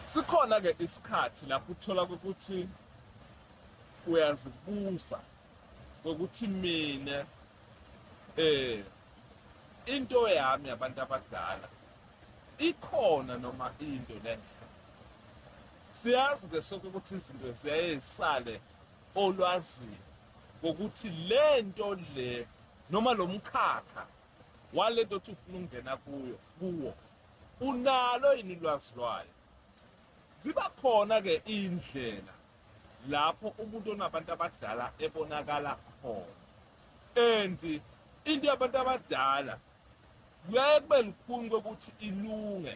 Sikhona ke isikhathi lapho uthola ukuthi uyazibuza ngokuthi mina eh into yami yabantu abadala ikhona noma into lengekho siyazi ke sonke ukuthi izinto ziyaye zisale olwazini ngokuthi le nto le noma lo mkhakha walento othi ufuna ukungena kuyo kuwo Unalo yini ulwazi lwayo? Ziba khona ke indlela lapho umuntu onabantu abadala ebonakala khona and into yabantu abadala kuyaye kube lukhuni kokuthi ilunge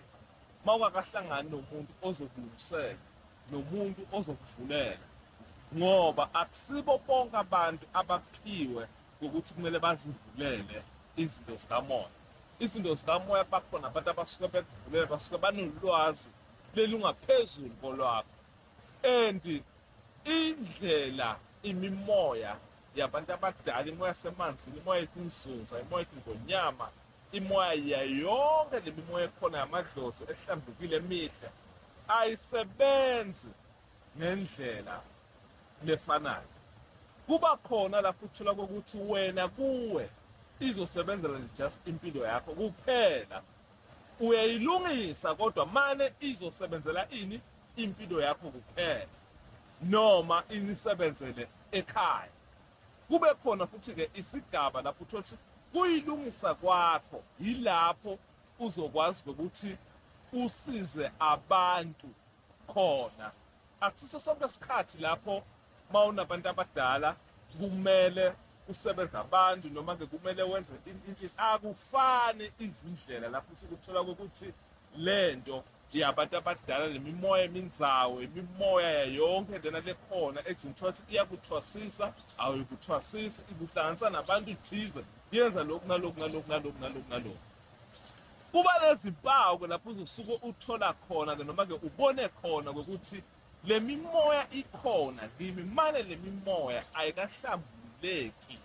uma ungakahlangani nomuntu ozokulungisela nomuntu ozokuvulela ngoba akusibo bonke abantu abaphiwe kokuthi kumele bazivulele izinto zikamoya izinto zikamoya bakhona abantu abasuke bekuvulele basuke banolwazi lelungaphezulu kolwakho and indlela imimoya yabantu abadala imoya yasemanzini imoya yetinzunza imoya yetindonyama imoya yayonke le mimoya ekhona yamadlozi ehlambukile emihle ayisebenzi Ngendlela lefanayo, kuba khona lapho uthola kokuthi wena kuwe izosebenzela nje just impilo yakho kuphela. Uyayilungisa kodwa mane izosebenzela ini impilo yakho kuphela noma inisebenzele ekhaya. Kube khona futhi-ke isigaba lapho uthola ukuthi kuyilungisa kwakho yilapho uzokwazi ukuthi usize abantu khona akusiso sonke isikhathi lapho mawunabantu abadala kumele usebenze abantu noma ke kumele wenze akufani izindlela lapho usuke uthola ukuthi lento yabantu abadala nemimoya eminzawo imimoya yayonke lena lekhona ejini kuthiwa ukuthi iyakuthwasisa awuyikuthwasisa ikuhlanganisa nabantu thize yenza lokhu naloku naloku naloku naloku naloku Kuba nezimpawu-ke lapho uzosuke uthola khona-ke noma-ke ubone khona ukuthi le mimoya ikhona kimi, mane le mimoya ayikahlambululeki,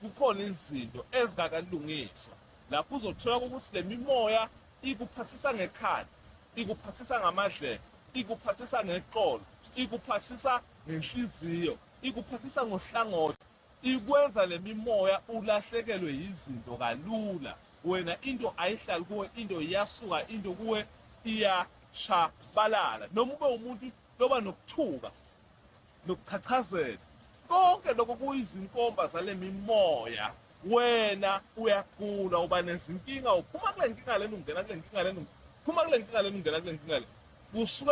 kukhona izinto ezingakalungiswa. Lapho uzothola ukuthi le mimoya ikuphathisa ngekhanda, ikuphathisa ngamadlebe, ikuphathisa ngeqolo, ikuphathisa ngenhliziyo, ikuphathisa ngohlangothi, Ikwenza lemimoya ulahlekelwe yizinto kalula wena into ayihlali kuwe into iyasuka into kuwe iyashabalala noma ube umuntu loba nokuthuka nokuchachazela konke lokho kuyizinkomba zalemimoya wena uyagula uba nezinkinga uphuma kule nkinga lena ungena kule nkinga lena uphuma kule nkinga lena ungena kule nkinga lena kusuke